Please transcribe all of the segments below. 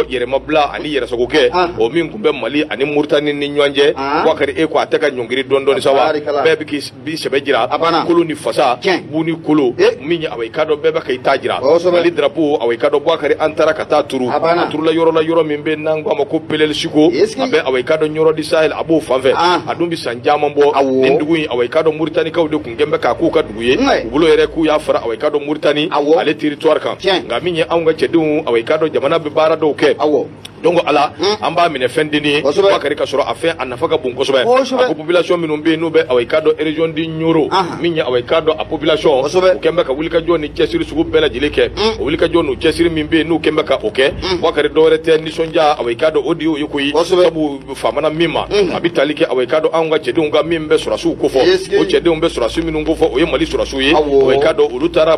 yɛrɛmabila ani yɛrɛsagokɛ ah. o min kun bɛ mali ani muritani ni ɲɔgɔn cɛ ah. wakari e ko a tɛ ka ɲɔngiri dɔɔni sa wa bɛɛ bɛ k'i sɛbɛ jira kolo ni fasa bu ni kolo eh. min ye awa i k'a dɔn bɛɛ bɛ ka i ta jira mali drapo awa i k'a dɔn wakari an taara ka taa turu a turula yɔrɔ la yɔrɔ min bɛ n'an ko a ma ko pelelisiko a bɛ awa i k'a dɔn ɲɔrɔ di sahel a b'o fanfɛ ah. a dun bɛ san caman bɔ nin dugu in awa i k'a dɔn muritanikaw de kɛnbɛ k'a k'u ka dugu ye u bolo yɛrɛ k'u y'a fara awa i k'a dɔn muritani ale territoire kan nka min ye anw ka cɛdenw awa i k'a dɔn jamana bɛ baara dɔw kɛ donc ala hmm. an b'a minɛ fɛn dennin ye bakari ka sɔrɔ a fɛn a nafa ka bon kosɛbɛ a ko population minnu bɛ yen n'u bɛ awa i k'a dɔn région di ɲɔrɔ min ye awa i k'a dɔn a population u kɛn bɛ ka wulikajɔ ni cɛsiri sugu bɛɛ lajɛlen kɛ hmm. o wulikajɔ ni cɛsiri min bɛ yen n'u kɛn bɛ ka o kɛ hmm. bakari dɔwɛrɛ tɛ nisɔndiya awa i k'a dɔn o de y'o ye koyi sabu faamana min ma a bɛ tali kɛ awa i k'a dɔn anw ka cɛdenw ka min bɛ sɔrɔdasiw kofɔ o cɛdenw bɛ sɔrɔdasi minnu kofɔ o ye mali sɔrɔdasiw ye awa i k'a dɔn olu taara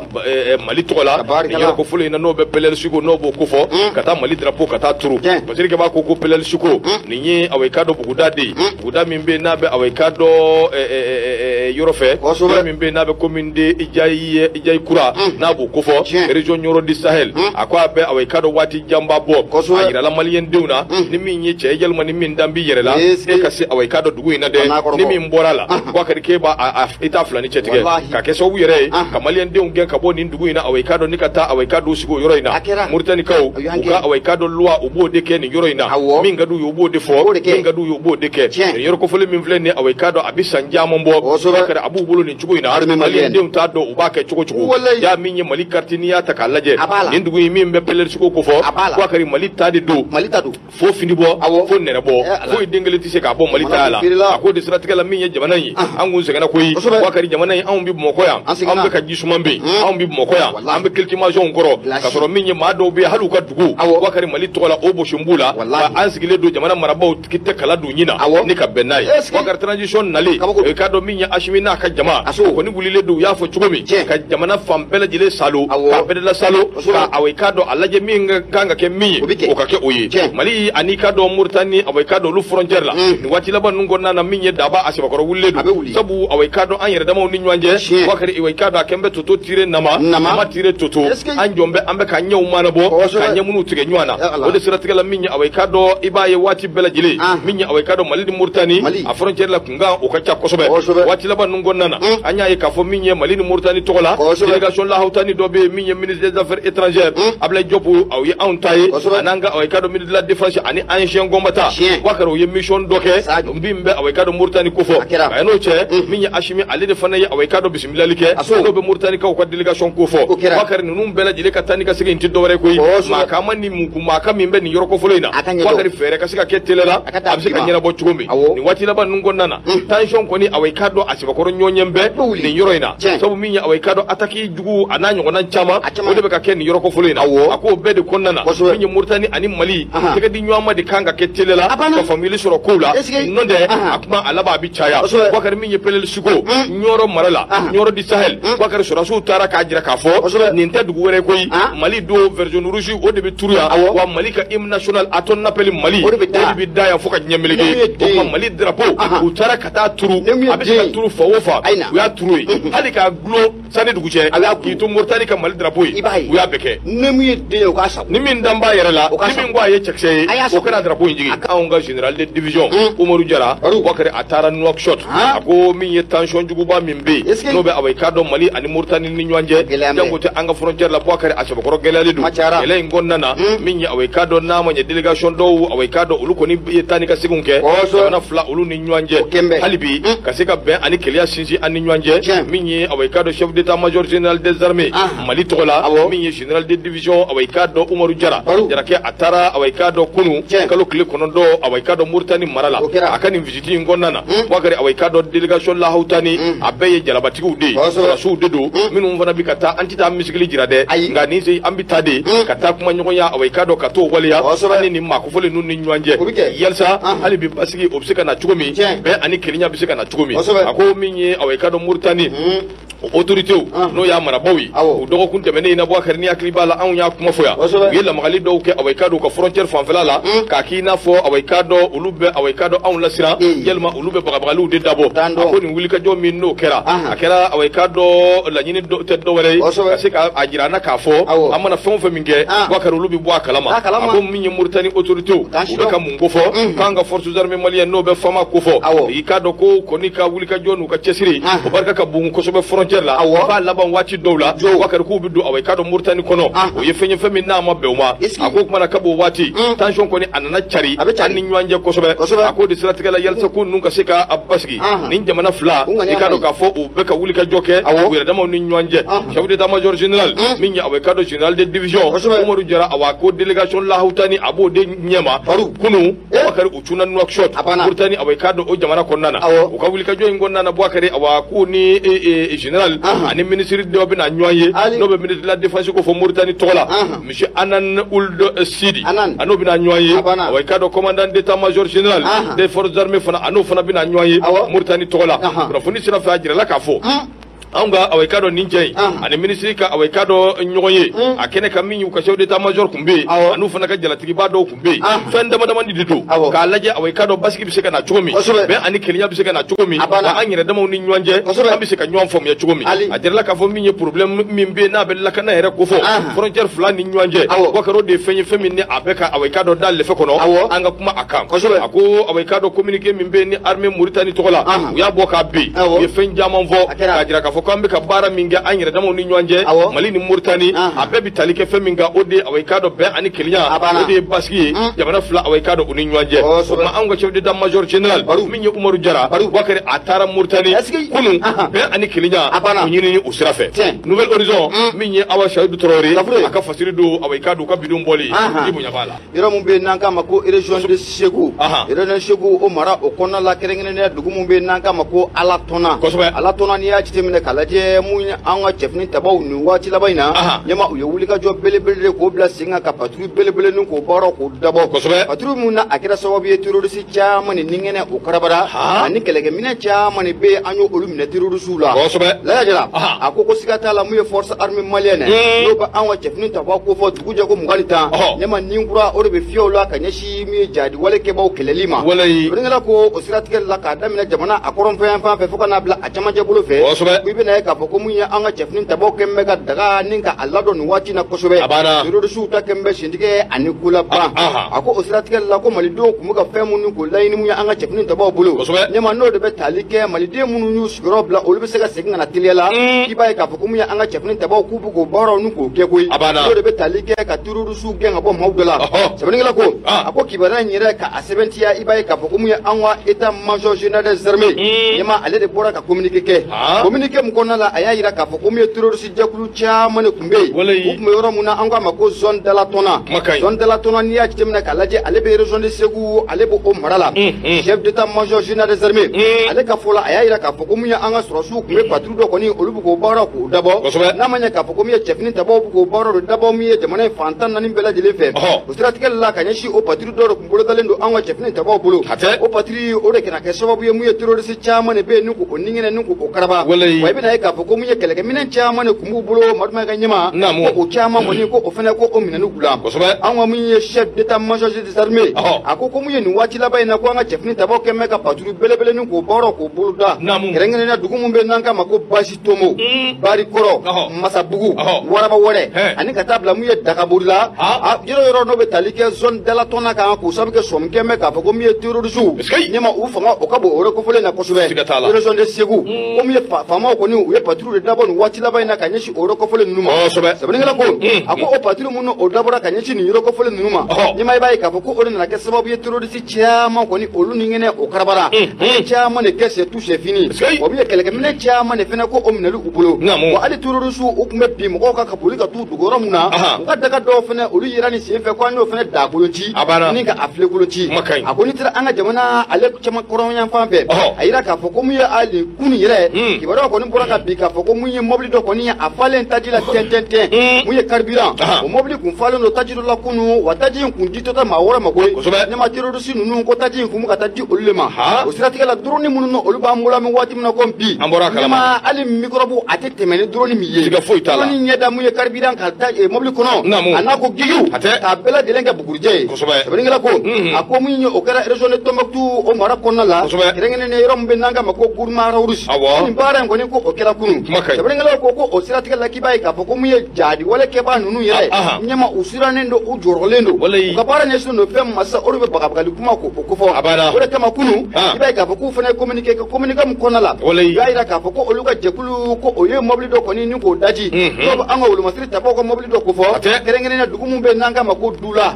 mali tɔgɔ la nin yɔrɔ kofɔlen in na n'o bɛ pɛlɛlisiko n'o b'o kofɔ ka taa mali drapo ka taa turu basirike b'a ko ko pɛlɛlisiko nin ye awa i k'a dɔn buguda de ye buguda min bɛ yen n'a bɛ awa i k'a dɔn yɔrɔ fɛ min bɛ yen n'a bɛ commune de jayi jayi kura n'a b'o kofɔ région ɲɔrɔ di sahel a ko a bɛ awa i k'a dɔn waati janba bɔ kɔsɔ a yɛrɛ la maliyɛn denw na ni min ye cɛ yalima ni min dalen b'i yɛrɛ la e ka se awa i k'a dɔn dugu in na dɛ ni min bɔra la wakari k'e b'a i t'a filani cɛ tigɛ ka kɛ sababu yɛrɛ ye ka maliyɛn denw gɛn ka bɔ nin dugu in na awa i k'a dɔn ni ka taa awa i k'a dɔn sigi o yɔrɔ in na moritanikaw u ka awa i k'a dɔn loi u b'o de kɛ nin yɔrɔ in na min ka d'u ye u b'o de fɔ min ka d'u ye u b'o de kɛ nin yɔrɔ kofɔlen min filɛ nin ye awa i k'a dɔn a bɛ san caman bɔ a b'u bolo nin cogo in na Armée malienne. Malien denw t'a dɔn u b'a kɛ cogo cogo Walayi. y'a min ye Mali carte n'i y'a ta k'a lajɛ A b'a la. nin dugu in min bɛ pɛlɛrisiko kofɔ A b'a la. wakari Mali ta de don mali ta don fo fini bɔ Awɔ. fo nɛrɛ bɔ Eh, ala. foyi den kelen tɛ se k'a bɔ mali Mana taya la bɛ feerela. a ko de siratigɛ la min ye jamana in ye Ah. an kun sɛgɛnna koyi Kosɛbɛ. wakari jamana in anw bɛ bamakɔ yan An sɛgɛnna. anw bɛ ka ji suman min yen Hmm. anw bɛ bamakɔ yan Walahi. an bɛ climatisation kɔrɔ Bilasi. ka sɔrɔ min ye maa dɔw bɛ yen hali u ka dugu Awɔ. wakari mali tɔgɔ la o bɔsilen b'u la Walahi. Wa an sigilen don jamana marabaaw k'i tɛgɛ kala don nin na awɔ ni ka bɛn n'a ye wakari transition nalen i k'a dɔn min ye asimi n'a ka jama a kɔni wulilen don u y'a fɔ cogo min ka jamana fan bɛɛ lajɛlen salo k'a bɛdɛla salo ka awa i k'a dɔn a lajɛ min ka kan ka kɛ min ye o ka kɛ o ye mali ani k'a dɔn moritani awa i k'a dɔn olu frontière la mm. nin waati laban ninnu kɔnɔna na min ye daba a sɛbɛkɔrɔ wulilen don sabu awa i k'a dɔn an yɛrɛ damaw ni ɲɔgɔn cɛ wakari i k'a dɔn a kɛnbɛ toto tire nama, nama tire toto an jɔlen bɛ an bɛ ka ɲɛw manabɔ ka ɲɛ minnu tigɛ ɲɔgɔn na o de siratigɛ la min ye awa i k'a dɔn i b'a ye waati bɛɛ lajɛlen ah. min ye awa i k'a dɔn mali ni moritani a frontière la kunkan o ka ca kosɛbɛ waati laban ninnu kɔnɔna na hmm. an y'a ye k'a fɔ min ye mali ni moritani tɔgɔ la délégation lahawutani dɔ bɛ yen min ye ministre des affaires étrangères hmm. ablaye diop aw ye anw ta ye a n'an ka awa i k'a dɔn ministre de la défense ani anciens combattants wakari o ye mission dɔ kɛ min bɛ awa i k'a dɔn moritani kofɔ a n'o cɛ hmm. min ye asimi ale de fana ye awa i k'a dɔn bisimila bilali kɛ dɔw bɛ moritanikaw ka delegation ko fɔ bakari ninnu bɛɛ lajɛlen ka taa ni ka segin in tɛ dɔwɛrɛ koyi mankan ani mugu mankan min bɛ nin yɔrɔ kofɔlen in na bakari fɛɛrɛ ka se ka kɛ teliya la a bɛ se ka ɲɛnabɔ cogo min nin waati laban ninnu kɔnɔna na hmm. tension kɔni awa i k'a dɔn a sɛbɛkɔrɔ ɲɔgɔnyɛn bɛ nin yɔrɔ in na sabu min ye awa i k'a dɔn ataki jugu a n'a ɲɔgɔnna caman o de bɛ ka kɛ nin yɔrɔ kofɔlen in na a k'o bɛɛ de kɔnɔna na min ye moritani ani mali tɛgɛ di ɲɔgɔn ma de kan ka kɛ teliya la ka faamuyali sɔrɔ kow la n'o tɛ a kuma a laban a bɛ caya bakari min ye peleli Tuko Nioro mara la Nioro du Sahel Bakari sɔrɔdasiw taara k'a jira k'a fɔ nin tɛ dugu wɛrɛ koyi Mali don vert jaune rouge o de bɛ turu yan wa Mali ka hymne national à ton appel Mali o de bɛ da yan fo ka diɲɛ meleke o tuma Mali drapeau u taara ka taa turu a bɛ se ka turu fan o fan u y'a turu yen hali k'a dulon san ni dugu cɛ k'i to moritani ka mali drapo ye i b'a ye u y'a bɛɛ kɛ ni min ye den ye o k'a sago ni min dalen b'a yɛrɛ la o ka ni min ko a ye cɛkisɛ ye o ka na drapo in jigi anw ka general de division umaru jara bakari a taara nouakchott a ko min ye tansiyɔn juguba min bɛ yen n'o bɛ awa i k'a dɔn mali ani moritani ni ɲɔgɔn cɛ janko tɛ an ka frontière la bakari a sɛbɛkɔrɔ gɛlɛyalen don gɛlɛya in kɔnɔna na min ye awa i k'a dɔn n'a ma ɲɛ delegation dɔw awa i k'a dɔn olu kɔni ye taa ni ka seginw kɛ jamana fila olu ni ɲɔgɔn cɛ kosɛbɛ hali bi mm. ka se ka bɛn ani kelenya sinsin an ni ɲɔgɔn cɛ min ye awa i k'a dɔn chef d'état major général des armées ah. mali tɔgɔ la min ye général de division awa i k'a dɔn umaru jara jarakɛ a taara awa i k'a dɔn kunu kalo tile kɔnɔntɔn awa i k'a dɔn moritani mara la a ka nin visiti in kɔnɔna na mm. bakari awa i k'a dɔn délégation lahawutani mm. a bɛɛ ye jalabatigiw de ye sɔrɔdasiw de don minnu fana bi ka taa an tɛ taa muscle jira dɛ nka nin sen an bi taa de ka taa kuma ɲɔgɔnya awa i k'a dɔn ka t'o waleya an ni nin maa kofɔlen ninnu ɲɔgɔn cɛ o bɛ kɛ yalisa Anhan. hali bi basigi o bɛ se ka na cogo min Tiɲɛ. bɛn ani kelenya bɛ se ka na cogo min Kosɛbɛ. a ko min ye awa i k'a dɔn moritani Hmm. o autoritew Anhan. n'o y'a marabaaw ye Awɔ. o dɔgɔkun tɛmɛnen in na bakari n'i hakili b'a la anw y'a kuma fɔ yan Kosɛbɛ. u ye lamagali dɔw kɛ awa i k'a dɔn u ka frontière fanfɛla la Hmm. k'a k'i n'a fɔ awa i k'a dɔn olu bɛ awa i k'a dɔn anw lasiran Hmm. yalima olu bɛ bagabagaliw de dabɔ Ten don. a ko nin wulikajɔ min n'o kɛra Anhan. a kɛra awa i k'a dɔn laɲini dɔ- tɛ dɔwɛrɛ ye Kosɛbɛ. ka se ka a jira an na k'a fɔ Awɔ. an mana fɛn o fɛn min kɛ Ah. bakari olu bɛ bɔ a kalama A kalama. ko min ye Mauritanie autorité u bɛ ka mun kofɔ k'an ka forces armées maliennes n'o bɛ FAMa kofɔ i k'a dɔn k'u kɔni ka wulikajɔ n'u ka cɛsiri o barika ka bon kosɛbɛ frontière la u b'a laban waati dɔw la Bakari k'u bɛ don awa i k'a dɔn Mauritanie kɔnɔ o ye fɛn ye fɛn min n'a ma bɛn u ma a ko kumana kab'o waati tension kɔni a nana cari an ni ɲɔgɔn cɛ kosɛbɛ a k'o de siratigɛ la yalisa ko ninnu ka se ka basigi nin jamana fila i k'a dɔn k'a fɔ u bɛ ka wulikajɔ kɛ u yɛrɛ damaw ni ɲɔgɔn cɛ chef d'état major général min ye awa i k'a dɔn général de division Umaru Jara awa ko délégation lahawutani a b'o de ɲɛma kunu Bakari u cunna Nouakchott Mauritanie awa i k'a dɔn o jamana kɔnɔna na u ka wulikajɔ in kɔnɔna na Bakari awa k'u ni général ani ministre dɔ bɛna ɲɔgɔn ye n'o bɛ ministre de la défense ko fɔ Mauritanie tɔgɔ la monsieur anan ould eh, sidi a n'o bina ɲɔgɔn ye awa i k'a dɔn commandant d'état major général des forces armées fana a n'o fana bina ɲɔgɔn ye muritani tɔgɔ la kunnafoni sira fɛ a jirala k'a fɔ anw ka awa i k'a dɔn nin cɛ in ani ministre ka awa i k'a dɔn ɲɔgɔn ye a kɛnɛ kan min y'u ka chef d'état major tun bɛ yen an'u fana ka jalatigiba dɔw bɛ yen ah. fɛn dama damani de don k'a lajɛ awa i k'a dɔn basigi bɛ se ka na cogo min bɛn ani kelenya bɛ se ka na cogo min wa an yɛrɛ damaw ni ɲɔgɔn cɛ an bɛ se ka ɲɔgɔn faamuya cogo min a jirala k'a fɔ min ye problème min bɛ yen n'a bɛ lakana yɛrɛ ko fɔ ah. frontière fila ni ɲɔgɔn cɛ wa k'a dɔn o de ye fɛn ye fɛn min ni a bɛ ka awa i k'a dɔn da lɛfɛ kɔnɔ an ka kuma a kan a ko awa i k'a dɔn communiqué min bɛ yen ni armée Mauritanie tɔgɔ la ah. u y'a bɔ k'a bin u ye fɛn caman fɔ k'a jira k'a fɔ ko an bɛ ka baara min kɛ an yɛrɛ damaw ni ɲɔgɔn cɛ mali ni moritani a bɛɛ bɛ tali kɛ fɛn min kan o de ye awa i k'a dɔn bɛn ani kelenya o de ye basigi ye jamana fila awa i k'a dɔn u ni ɲɔgɔn cɛ o tuma anw ka chef d'état major général min ye umaru jara bakari a taara moritani kunun bɛn ani kelenya o ɲinini o sira fɛ nouvel horizon min ye awa sayidu traoré a ka fasiri don awa i k'a dɔn u ka bi don bɔli i bonya b'a la yɔrɔ min bɛ yen n'an k'a ma ko région de Segu région de Segu o mara o kɔnɔna la kɛrɛnkɛrɛnnenya dugu min bɛ yen n'an k'a ma ko Alatɔnna Alatɔnna n'i y'a jateminɛ k'a lajɛ mun ye an ka cɛfini tabaw nin waati laban in na ɲɛma u ye wulikajɔ belebele de k'o bila sen kan ka patrouille belebele nin k'o baara k'o dabɔ patrouille min na a kɛra sababu ye terorisi caman ni ninkɛnɛ o karabara ani kɛlɛkɛminɛ caman de bɛ yen an ye olu minɛ terorisiw la laya jara a ko ko siga t'a la mun ye forces armées maliennes n'o bɛ an ka cɛfini tabaw ko fɔ jɛ ko fiɲɛmanin kura o de bɛ fiyɛ la ka ɲɛsin min ye jadi wale kɛbaaw kɛlɛli ma ko o siratigɛ la k'a daminɛ jamana a kɔrɔnfɛ fan fɛ fo ka n'a bila a camancɛ bolo fɛ i bɛna ye k'a fɔ ko mun ye an ka cɛfini tabaaw kɛn bɛ ka daga ni ka a ladɔn nin waati na kosɛbɛ terorisiw ta kɛn bɛ sentigɛ ani k'o laban a ko o siratigɛ la ko malidenw tun bɛ ka fɛn minnu k'o laɲini mun ye an ka cɛfini tabaaw bolo ɲɛma n'o de bɛ tali kɛ maliden minnu y'u sigiyɔrɔ bila olu bɛ se ka segin ka na teliya la i b'a ye k'a fɔ ko mun ye an ka cɛfini tabaaw k'u k'o baaraw nin k'o kɛ koyi n'o de bɛ tali kɛ ka terorisiw gɛn ka bɔ maaw da la sɛbɛnnikɛla ko a ko kibaruya in yɛrɛ ka a sɛbɛntiya i b'a ye k'a fɔ ko mun ye an ka état major général des armées ɲɛma ale de bɔra ka communiqué kɛ communiqué min kɔnɔna la a y'a jira k'a fɔ ko mun ye terroriste jɛkulu caman de tun bɛ yen u tun bɛ yɔrɔ min na an k'a ma ko zone d'Alatɔnna zone d'Alatɔnna n'i y'a jateminɛ k'a lajɛ ale bɛ région de Segu ale bɛ o mara la chef d'état major général des armées ale ka fɔ la a y'a jira k'a fɔ ko mun ye an ka sɔrɔdasiw tun bɛ dɔ kɔni olu bɛ k'o baara k'o dabɔ n'a ma ɲɛ k'a fɔ ko min ye cɛfini tabaw bɛ k'o baara dɔ dabɔ min ye jamana in fan tan naani bɛɛ lajɛlen fɛ o siratigɛ la ka ɲɛsin o patrouille dɔ de kun bolodalen don an ka cɛfini tabaw bolo o patrouille o de kana kɛ sababu ye mun ye terorisi caman de bɛ yen n'u k'o ninkɛnɛ n'u k'o karaba wa i bɛna ye k'a fɔ ko min ye kɛlɛkɛminɛn caman de kun b'u bolo madumɛ ka ɲɛma ko o caman kɔni ko o fana ko o minɛnni k'u la an ka min ye chef d'état major des armées a ko ko min ye nin waati laban in na ko an ka cɛfini tabaw kɛn bɛ ka patrouille belebele ni k'o baara k'o boloda kɛrɛnkɛrɛnya dugu min bɛ n'an k'a ma ko basi tomo mm. barikɔrɔ masabugu waraba wɛrɛ ani ka taa bila mun ye dagabori la yɔrɔ yɔrɔ n'o bɛ tali kɛ zone dalatɔn na kan k'o sabu kɛ sɔmi kɛn bɛ k'a fɔ ko min ye terorisiw ne ma u fanga o ka bon o yɔrɔ kofɔlen na kosɛbɛ région de segu mm. ko min ye faamaw kɔni u ye patrouille de dabɔ nin waati laban in na ka ɲɛsin o yɔrɔ kofɔlen ninnu ma sɛbɛnnikɛla ko mm. a ko o patrouille minnu o dabɔra ka ɲɛsin nin yɔrɔ kofɔlen ninnu ma ɲɛma i b'a ye k'a fɔ ko o de nana kɛ sababu ye terorisi caman kɔni olu ni kɛnɛ o karabara an ye caman de kɛ c'est tout c'est fini o min ye kɛlɛkɛminɛ caman de fana ko o minɛli u bolo wa hali terorisiw u tun bɛ bin mɔgɔw kan ka boli ka t'u dogo yɔrɔ min na u ka daga dɔw fana olu yera ni sen fɛ ko an y'o fana daa kolon ci ni ka a filen kolon ci a ko n'i taara an ka jamana ale caman kɔrɔnyan fan fɛ a yira k'a fɔ ko mun ye hali kunu yɛrɛ kibaruyaw kɔni bɔra ka bin k'a fɔ ko mun ye mɔbili dɔ kɔni ye a falen taji la tɛntɛntɛn mun ye carburant o mɔbili kun falen don taji dɔ la kunu wa taji in kun itɔ tɛ maa wɛrɛ ma koyi kosɛbɛ ne ma terorisi ninnu ko taji in kun bɛ ka taa di olu le ma o siratigɛ la drone minnu na olu b'an bolo an bɛ waati min na ko bi an bɔra kalama ma hali microbe a tɛ tɛmɛ ni drone m'i ye siga foyi t'a la drone ɲɛ da mun ye carburant ka da eh, mobili kɔnɔ naamu a n'a ko gigiw a tɛ k'a bɛɛ lajɛlen kɛ bugurijɛ ye kosɛbɛ sɛbɛnnikɛla ko mhm. a ko min ye o kɛra région de Tombouctou o mara kɔnɔna la kosɛbɛ kɛrɛnkɛrɛnnen yɔrɔ min bɛ n'an k'a ma ko Gourma Rharous awɔ nin baara in kɔni ko o kɛra kunun kuma ka ɲi sɛbɛnnikɛlaw ko ko o siratigɛ la k'i b'a ye k'a fɔ ko mun ye jadi wale kɛbaa ninnu yɛrɛ ah, ah. ɲɛma u sirannen don u jɔrɔlen don u ka baara ɲɛsinnen don fɛn ma sa o de bɛ bagabagali kuma ko o kofɔ o de kama kunu ah. i b'a ye k'a fɔ k'u fana ye communiqué kɛ communiqué min kɔnɔna la u y'a jira k'a fɔ ko olu ka jɛkulu ko o ye mɔbili dɔ kɔni ni k'o daci mhm. n'o bɛ an ka wolomasiri tabaaw ka mɔbili dɔ kofɔ kɛrɛnkɛrɛnnen dugu min bɛ n'an k'a ma ko dula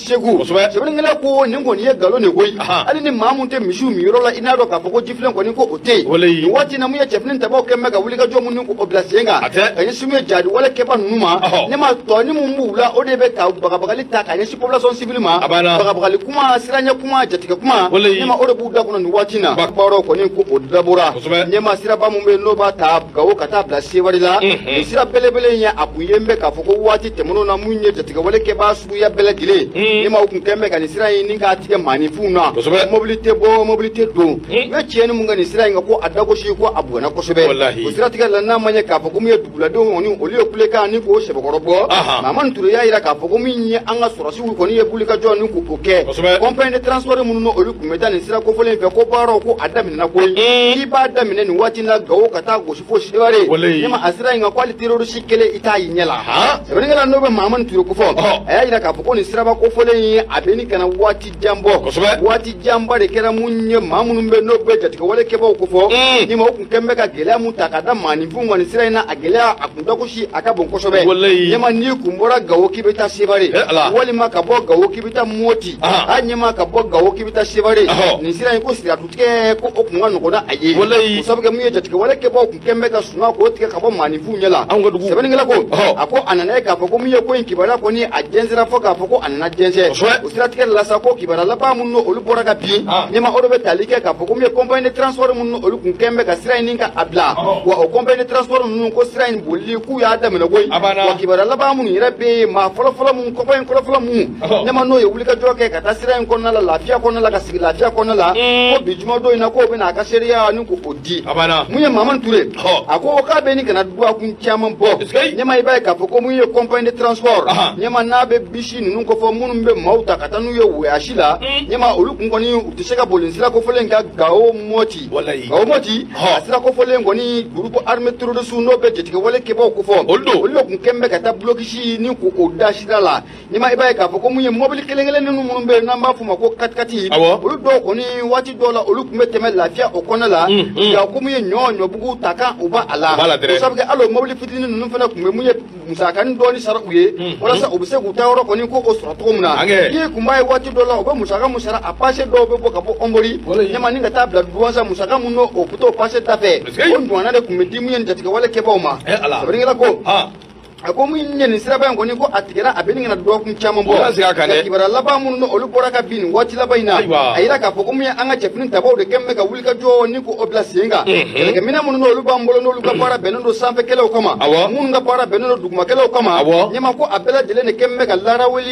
Segu sɛbɛnnikɛla ko nin kɔni ye nkalon de koyi hali ni maa min tɛ misiw minyɔrɔ la i n'a dɔn k'a fɔ ko jifilen kɔni ko o tɛ yen nin waati na mun ye cɛfini tabaaw kɛn bɛ ka wulikajɔ minnu ko o bila sen kan ka ɲɛsin min ye jadi wale kɛbaa ninnu ma ne ma tɔnin mun b'u la o de bɛ ka bagabagali ta ka ɲɛsin population civile ma bagabagali kuma siranya kuma jatigɛ kuma ne ma o de b'u da kɔnɔ nin waati na baaraw kɔni ko o dabɔra ne ma siraba min bɛ yen n'o b'a ta gawo ka taa bila sewari la nin sira belebele in ye a kun ye n bɛ k'a fɔ ko waati tɛmɛnenw na mun ye jatigɛwale kɛbaa suguya bɛɛ lajɛlen ne ma o kun kɛn bɛ ka nin sira in ni k'a tigɛ maaninfinw na mobili tɛ bɔ mobili tɛ don u ye tiɲɛni mun kɛ nin sira in kan ko a dagosi ko a bugana kosɛbɛ o siratigɛ la n'a ma ɲɛ k'a fɔ ko min ye duguladenw kɔni olu ye kulekan ni k'o sɛbɛkɔrɔ bɔ Mahamani Ture y'a jira k'a fɔ ko min ye an ka sɔrɔsiw kɔni ye wulikajɔ ni k'o kɛ compagnie de transport minnu na olu kun bɛ taa nin sira kofɔlen fɛ ko baaraw ko a daminɛna koyi k'i b'a daminɛ nin waati in na Gawo ka taa gosi fo Seware ne ma a sira in kan ko hali terroriste kelen i t'a y'i ɲɛ la sɛbɛnnikɛla n'o bɛ mahamani ture kofɔ a y'a jira k'a fɔ ko nin siraba kofɔlen ye a bɛ ɲini ka na waati jan bɔ waati janba de kɛra mun ye maa minnu bɛ n'o bɛ jatigɛwale kɛbaaw kofɔ mm. ne ma o kun kɛn bɛ ka gɛlɛya mun ta ka da maaninfinw kan nin sira in na a gɛlɛya a kun dagosi a ka bon kosɛbɛ ɲɛma n'i kun bɔra gawo k'i bɛ taa sebare eh, walima ka bɔ gawo k'i bɛ taa moti a ɲɛma ka bɔ gawo k'i bɛ taa sebare nin sira in ko sira tigɛ ko o kun ka nɔgɔ n'a a ye o sabu kɛ mun ye jatigɛ wale kɛbaaw kun kɛn bɛ ka suma k'o tigɛ ka bɔ maaninfinw ɲɛ la sɛbɛnnikɛla ko a ko a nana ye k'a fɔ ko mun ye ko in kibaruya kɔni a jɛnsɛra fɔ k'a fɔ ko a nana jɛnsɛ o siratigɛ la sa ko kibaruya laban minnu olu bɔra ka bin ɲɛma o de bɛ tali kɛ k'a fɔ ko mun ye compagnie de transport minnu olu kun kɛn bɛ ka sira in ni ka a bila wa o compagnie de transport ninnu ko sira in bolili k'u y'a daminɛ koyi wa kibaruya laban minnu yɛrɛ bɛ yen maa fɔlɔfɔlɔ minnu compagnie fɔlɔfɔlɔ minnu ɲɛma n'u ye wulikajɔ kɛ ka taa sira in kɔnɔna la lafiya kɔnɔna la ka sigi lafiya kɔnɔna la ko bi jumadon in na k'o bɛna a ka seereya ni ko o di mun ye mamani ture a ko k'a bɛ ɲini ka na dɔgɔkun caman bɔ ɲɛma i b'a ye k'a fɔ ko mun ye compagnie de transport ɲɛma n'a bɛ bisi ninnu kofɔ minnu bɛ maaw ta ka taa n'u ye wɔyasi la ɲɛma olu kun kɔni u tɛ se ka boli sira kofɔlen ka gawo mɔti gawo mɔti a sira kofɔlen kɔni groupe armé terroriste n'o bɛ jatigɛwale kɛbaaw kofɔ olu de kun kɛlen bɛ ka taa blocus ni ko o da sira la ɲɛma i b'a ye k'a fɔ ko mun ye mɔbili kelen kelen ninnu minnu bɛ yen n'an b'a f'u ma ko katikati olu dɔw kɔni waati dɔw la olu kun bɛ tɛmɛ lafiya o kɔnɔ la nka ko mun ye ɲɔ ɲɔbugu ta kan u b'a a la o sabu kɛ hali o mɔbili fitinin ninnu fana kun bɛ mun ye musakanin dɔɔni sara u ye walasa u bɛ se k'u taayɔrɔ kɔni ko o sɔrɔ cogo min na n'i kun b'a ye waati dɔw la u bɛ musaka mun sara a pase dɔw bɛ bɔ ka bɔ ɔnbori ɲɛma ni ka taa bila duwansa musaka mun n'o bɛ t'o pase da fɛ o ɲɔgɔnna de kun bɛ di mun ye jatigɛwale kɛbaaw ma sɛbɛnnikɛla ko a ko mun ye nin siraba in kɔni ko a tigɛra a bɛ ɲini ka na dɔgɔkun caman bɔ nka kibaruya laban minnu olu bɔra ka bin nin waati laban in na a yira k'a fɔ ko mun ye an ka cɛfini tabaw de kɛlen bɛ ka wuli ka jɔ ni ko o bila sen kan kɛlɛkɛminɛn minnu n'olu b'an bolo n'olu ka baara bɛnnen don sanfɛkɛlɛw kama minnu ka baara bɛnnen don dugumakɛlɛw kama ɲɛma ko a bɛɛ lajɛlen de kɛlen bɛ ka laraweli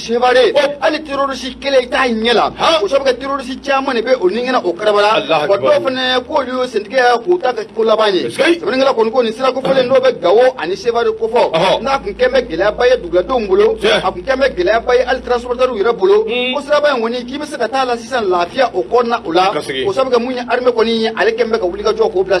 sevare hali terroriste kelen t'i ɲɛ la o sabu kɛ terroriste caman de bɛ o nikɛnɛ o karabala wa dɔw fana k'olu y'o sentigɛ k'u ta kɛ ko laban ye sɛbɛnnikɛla kɔni ko nin sira kofɔlen n'o bɛ gawo ani sevare kofɔ n'a kun kɛn bɛ gɛlɛyaba ye duguladenw bolo a kun kɛn bɛ gɛlɛyaba ye hali transporteurs yɛrɛ bolo ko siraba in kɔni k'i bɛ se ka taa la sisan lafiya o kɔnɔna o la o sabu kɛ mun ye armée kɔni ye ale kɛn bɛ ka wulikajɔ k'o bila